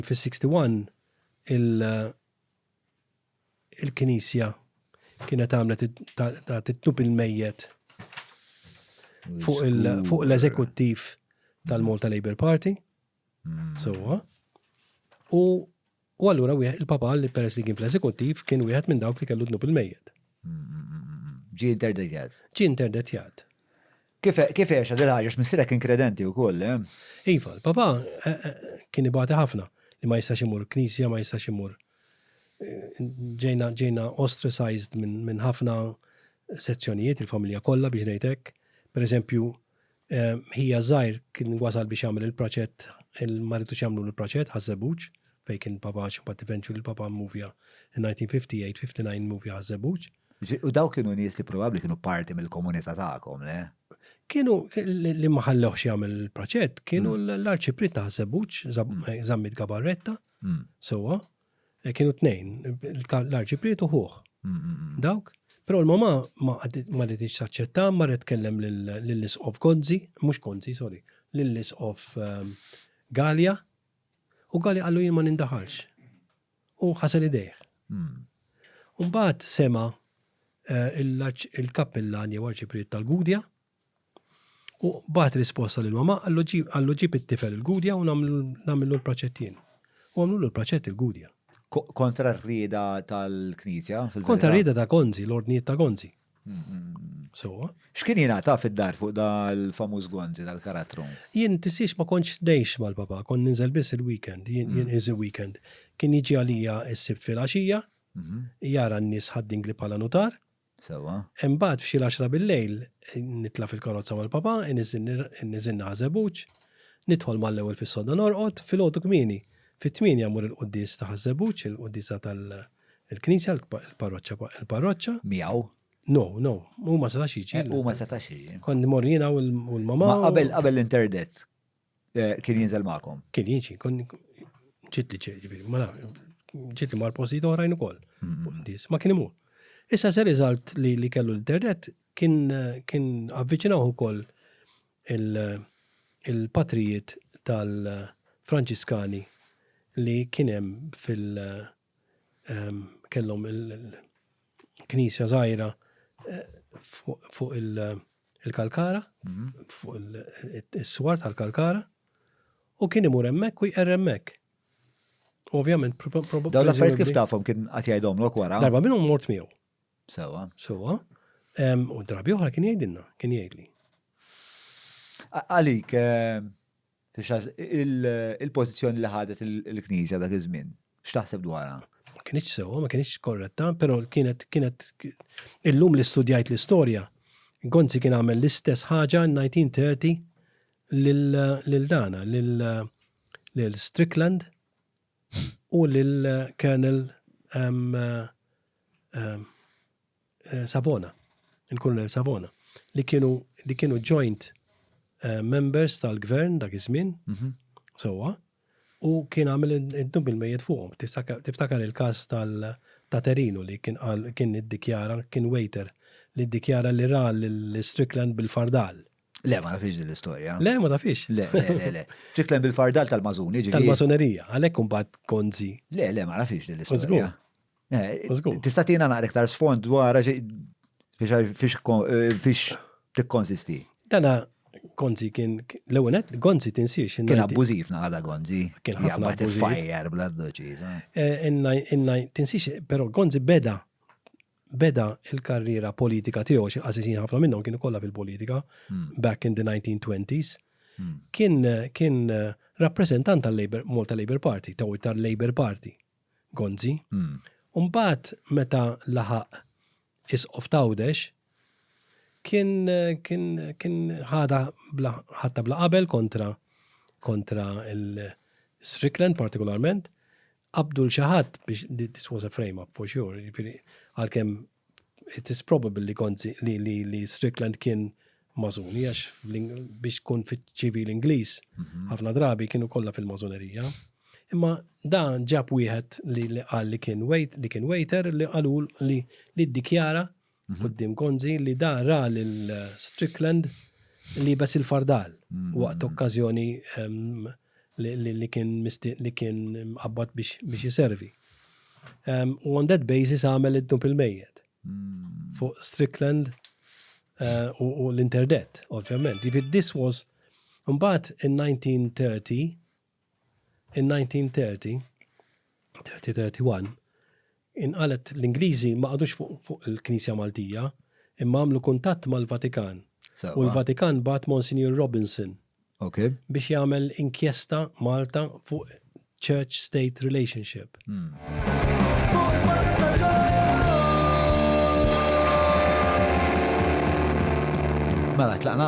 Fis-61 il-Knisja kienet għamlet titnub il-mejjet fuq l-eżekuttiv tal-Malta Labour Party. Hmm. Sowa. U u allura il-papa li peress li kien fl-eżekuttiv kien wieħed minn dawk li kellu dnub il-mejjet. Hmm, hmm, Ġi interdetjat. Ġi interdetjat. Kif għexha din il-ħaġa għax missierek kien kredenti wkoll, le? Iva, l-papà kien ibati ħafna li ma jistax imur knisja, ma jistax imur. Ġejna ostracized minn ħafna sezzjonijiet il-familja kollha biex ngħid hekk. Pereżempju, ħija żgħir kien wasal biex jagħmel il-praċett, il-maritu x'jagħmlu l-praċett ħażebuġ fejn kien papà x'bad tivenċu l-papà movja in-1958-59 movja ħażebuġ. U dawk kienu nies li probabbli kienu parti mill-komunità tagħkom, le? Kienu li ma ħallewx jagħmel il-proċett, kienu mm. l-arċipri ta' Zebuċ, mm. Zammit Gabarretta, mm. sewwa, e, kienu tnejn, l-arċipri tuħuħ. Dawk, Pero l-mama ma għaditix saċċetta, ma rrit kellem l-lis of Gonzi, mux Gonzi, sorry, l-lis of um, Galia, u Galia għallu jien ma nindaħalx. u ħasel idejh. U mbagħad sema' il-kappillan jew arċipriet tal-Gudja u bagħat risposta lil mama għallu ġib it-tifel il-Gudja u nagħmlu l-proċett jien. U għamlu l-proċett il-Gudja. Kontra r-rieda tal-Knisja? Kontra r-rieda ta' Gonzi, l-ordnijiet ta' Gonzi. Sowa. X'kien jina ta' fid-dar fuq dal-famuż gonzi tal-karattru? Jien tisiex ma kontx dejx mal-papa, kon ninżel biss il-weekend, jien mm. iżi weekend. Kien jiġi għalija s-sib fil-għaxija, mhm. jara n-nies ħaddingli bħala nutar. Sewa. Imbagħad f'xi l-10 bil-lejl nitla' fil-karozza mal-papa, niżin naħżebuġ, nidħol mal-ewwel fis-soda norqod, fil-għodu kmieni. Fit-tmieni għamur il-quddis ta' ħażebuġ, il-quddisa tal-Mari Il-knisja, il-parroċċa, il-parroċċa. Miegħu. No, no, u ma setax jiġi. Eh, u ma setax jiġi. Kon mor jiena u l-mama. Qabel qabel l-interdet eh, kien jinżel magħkom. Kien jiġi, kon ġiet li ġiet, ma ġiet li mar postijiet oħrajn ukoll. Mm-hmm. Ma kien imur. Issa se riżalt li li kellu l-internet kien kien avviċinaw ukoll il-patrijiet tal-Franċiskani li kien hemm fil- kellhom il-knisja żgħira fuq il-kalkara, fuq il-swar tal-kalkara, u kien imur hemmhekk u jqer hemmhekk. Ovvjament, probabbilment. Dawn l-affarijiet kif tafhom kien qatt jgħidhom lok wara. Darba minnhom mort miegħu. Sewa. Sewa. U drabi oħra kien jgħidilna, kien jgħidli. Għalik, Il-pożizzjoni li ħadet il-Knisja dak iż-żmien, x'taħseb dwarha? Ma kienx sewwa, ma kienx korretta, però kienet kienet illum li studjajt l-istorja, Gonzi kien għamel l-istess ħaġa 1930 lil dana, lil Strickland u lil Colonel Savona, il-Kolonel Savona, li kienu li kienu joint eh, members tal-gvern dak iż-żmien, mhm. sewwa, u kien għamel id-dub il-mejjet fuqhom. Tiftakar il-każ tal ta' Terinu li kien qal kien iddikjara, kien waiter li iddikjara li ra l-Strickland bil-fardal. Le, ma nafix din l-istorja. Le, ma nafix. Le, le, le. Strickland bil-fardal tal-mażuni, ġifieri. Tal-mażunerija, għalhekk imbagħad konzi. Le, le, ma nafix din l-istorja. Tista' tina naqra iktar sfond dwar fiex tikkonsisti. Dana Gonzi kien l-ewwel qed Gonzi tinsiex. Kien abbużiv naqada Gonzi. Kien ħafna fajjar bla doċiż. Tinsiex, però Gonzi beda beda il-karriera politika tiegħu xi qasisin ħafna minnhom kienu kollha fil-politika hmm. back in the 1920s. Hmm. Kien kien rappreżentant tal-Labor Malta Labor Party, taw tal-Labor Party. Gonzi. U mbagħad meta laħaq Isqof t'Għawdex, kien kien kien ħadha bla ħadta bla qabel kontra kontra il-Strickland partikolarment, qabdu l xi ħadd biex this was a frame up for sure, jiġifieri għalkemm It is probable li kont li li li Strickland kien mażuni għax biex tkun fiċ-ċivil Ingliż mhm. ħafna drabi kienu kollha fil-mażunerija. Imma dan ġab wieħed li li qal li kien wait li kien waiter li qalu li li ddikjara mhm. qudiem Gonzi li da ra lil Strickland li bes il-fardal mhm. waqt okkażjoni li kien li kien mqabbad biex jiservi. U on that basis għamel id-dub il-mejjet. Hmm. Fuq Strickland eh, u l-interdet, ovvjament. Jivid this was, mbagħad in 1930, in 1930, 30-31, inqalgħet l-Ingliżi ma qagħdux fuq il-Knisja Maltija imma għamlu kuntatt mal-Vatikan u l-Vatikan bagħat Monsinjur Robinson biex jagħmel inkjesta Malta fuq Church-State relationship. Mela tlaqna?